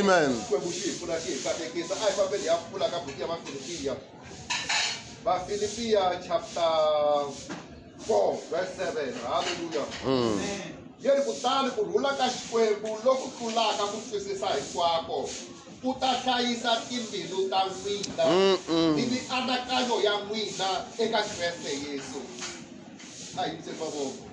Amen. Philippians chapter 4 verse 7. Hallelujah. Mm. Yeri kutani ku rhula ka Xikwembu loku tlulaka ku twisisa hinkwako ku ta hlayisa timbilu ta n'wina ni mianakanyo ya n'wina eka Kreste Yesu. A hi mavoko.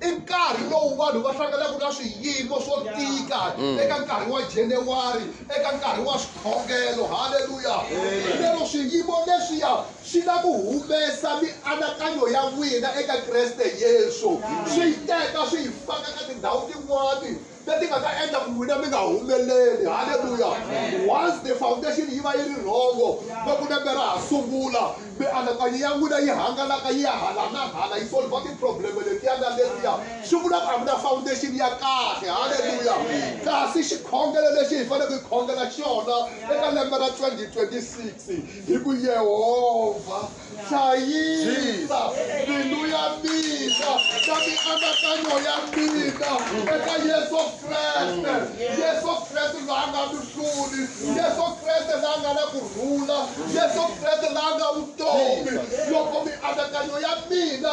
I nkarhi lowu vanhu va hlanganaka na swiyimo swo tika mm. eka nkarhi wa January, eka nkarhi wa swikhongelo. Haleluya! Lero swiyimo leswiya swi na ku humesa mianakanyo ya n'wina eka Kreste Yesu, swi yi teka swi yi faka ka tindhawu tin'wani leti nga ta endla ku n'wina mi nga humeleli halleluya once the foundation yi va yi ri rhongo loko lembe ra ha sungula mianakanyo ya n'wina yi hangalaka yi ya hala na hala yi solva tiprobleme letiya na letiya swi vula ku a mi na foundation ya kahle halleluya kasi xikhongelo lexi hi faneleke hi khongela xona eka lembe ra 2026 hi ku yehovha hlayisa mbilu ya mina na mianakanyo ya mina eka yesu kreste yesu kreste la nga mihluli yesu kreste la nga na ku rhula yesu kreste la nga vutomi loko mianakanyo ya mina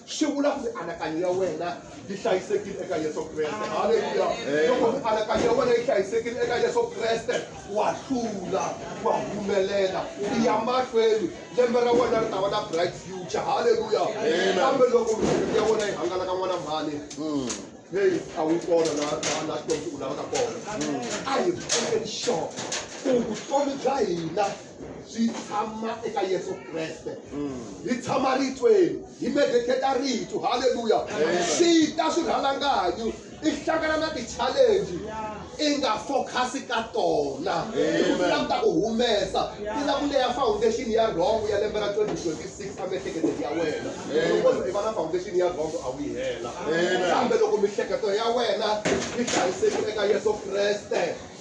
swi vula ku mianakanyo ya wena yi hlayisekile eka yesu kreste halleluya loko mianakanyo ya wena yi hlayisekile eka yesu kreste wa hlula wa humelela ya mahlweni lembe ra wena ri ta va na bright future halleluya kambe loko miehleketo ya wena yi hangalaka n'wana mhani hmm. heyi a wu kona na na xikombiso u lavaka kona a hi pfumeleni xona ku vutomi bya hina swi tshama eka yesu kreste hi tshama ritweni hi medeketa ritu halleluya swi ta swi rhalanganyu i hlangana na ti-challenge i nga focus ka tona ilam ta ku humesa i la ku leya foundation ya rhongo ya lembe ra 2026 a miehleketeni ya wena loko i va na foundation ya rhongo a wu yi hela kambe loko mihleketo ya wena yi hlayisekile eka yesu kreste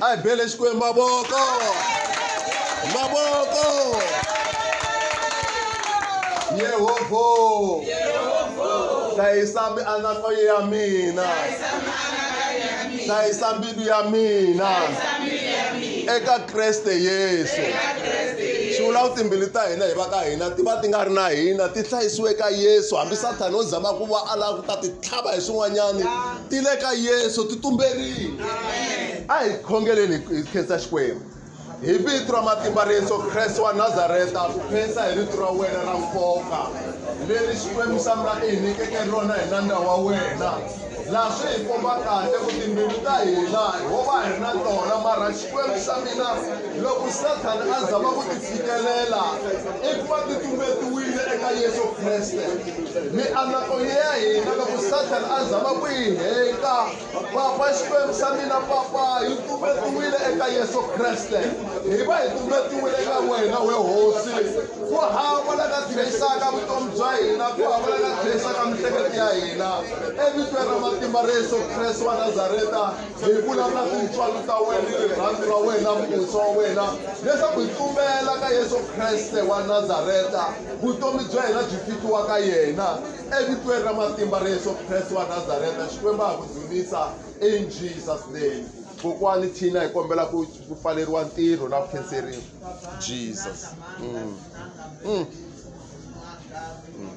a hi bele xikwembu mavoko mavoko yehovho hlayisa mianakanyo ya mina hlayisa mbilu ya mina eka kreste yesu swi vula ku timbili ta hina hi va ka hina ti va ti nga ri na hina ti hlayisiwe ka yesu hambi sathana o zama ku va a lava ku ta ti tlhava hi swin'wanyani ti le ka yesu ti tumberile a hi khongeleni hi khensa xikwembu hi vito ra matimba ra yesu kreste wa nazareta ku khensa hi rito ra wena ra nkoka leri xikwembu xa mina i hi nyikeke rona hi nandza wa wena laha swi hi komba kahle ku timbilu ta hina hi wo va hi ri na tona mara Xikwembu xa mina, loko Sathana a zama ku ti fikelela eku va ti tumbetiwile eka Yesu Kriste. Mianakonyo ya hina loko Sathana a zama ku yi heta, Papa, Xikwembu xa mina, Papa, yi tumbetiwile eka Yesu Kriste. Hi va hi tumbetiwile eka wena, we Hosi. Ku hava la nga tlherisaka vutomi bya hina, ku hava la nga tlherisaka mihleketo ya hina. Evitweni ra matimba ra Yesu Kreste wa Nazareta, hi vulavula tintswalo ta wena ni rirhandzu ra wena musa wa wena leswaku hi tumbela ka yesu kreste wa nazareta vutomi bya hina byi fitiwa ka yena evitweni ra matimba ra yesu kreste wa nazareta xikwembu a ku dzunisa in jesus name kokwani thina hi kombela ku pfaleriwa ntirho na ku khenseriwa jesus mm. Mm. Mm.